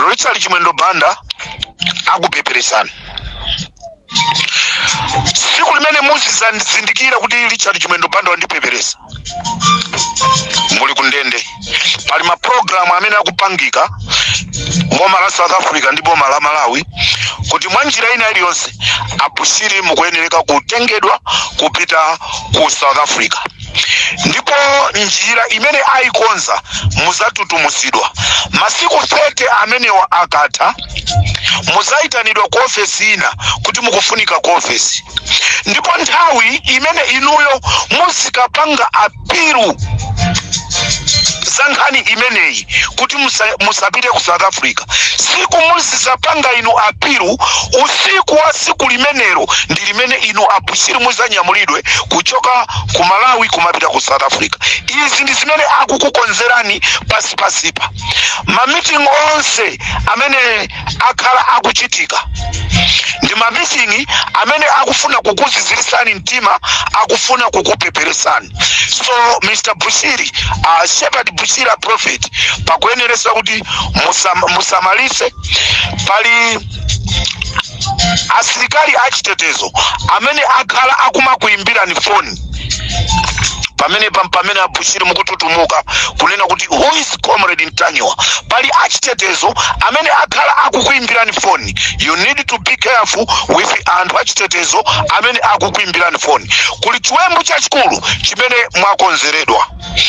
Richard Chimwendo Banda akupeperesani siku limene muzizazindikira kuti Richard Chimwendo Banda wandipeperesa muli kundende pali maprogramu amene akupangika boma la south africa ndi boma la malawi kuti mwa njira ina iliyonse abushiri mukuyenereka kutengedwa kupita ku south africa ndipo njira imene ayikonza muzatutumuzidwa masiku 30 amenewa akatha muzayitanidwa ku ofesi ina kuti mukufunika ku ofesi ndipo nthawi imene inuyo muzikapanga apilu za nkhani imeneyi kuti musapite ku south africa siku muzizapanga inu apilu usiku wa siku limenelo ndi limene inu abushiri muzanyamulidwe kuchoka ku malawi kumapita ku south africa izi ndi zimene akukukonzerani pasipasipa mamiting onse amene akhala akuchitika ndi mamiting amene akufuna kukuzizirisani mtima akufuna kukupeperesani so mr bushiri uh, shepherd bushiri a prophet pakuyeneresa kuti musamalise pali asilikali achitetezo amene akhala akumakuyimbirani foni pamene pamene abushiri mukututumuka kunena kuti who is comrade ntanyiwa pali achitetezo amene akhala akukuyimbirani foni you need to be careful with anthu achitetezo amene akukuyimbirani foni kuli chiwembu chachikulu chimene mwakonzeredwa